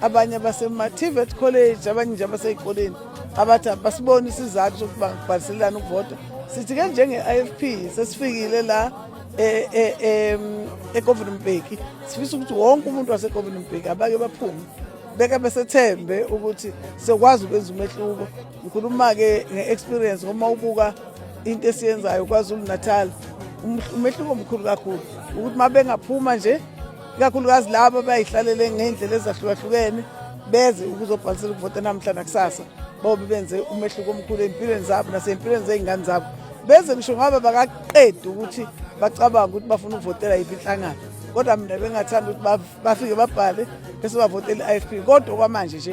abanye abasema-tvet college abanye nje abaseyikoleni abathi abasiboni isizathu sokuba ngibhaliselelani ukuvota sithi ke njenge-i f p sesifikile la e, e, e, egovini mbheki sifisa ukuthi wonke umuntu wasegovini mbheki abake baphume beke besethembe ukuthi sokwazi ukwenza umehluko ngikhuluma-ke nge-experience uma ubuka into esiyenzayo kwazulu natal um, umehluko omkhulu kakhulu ukuthi uma bengaphuma nje ikakhulukazi labo abayihlalele ngey'ndlela ezahlukahlukene beze ukuzobhalisela ukuvota namhla nakusasa bobe benze umehluko omkhulu ey'mpilweni zabo nasey'mpilweni zey'ngane zabo beze ngisho ngoba bakaqedi ukuthi bacabanga ukuthi bafuna ukuvotela yiphi inhlangano kodwa mina bengathanda ukuthi bafike babhale bese bavotela i-ifp kodwa okwamanje nje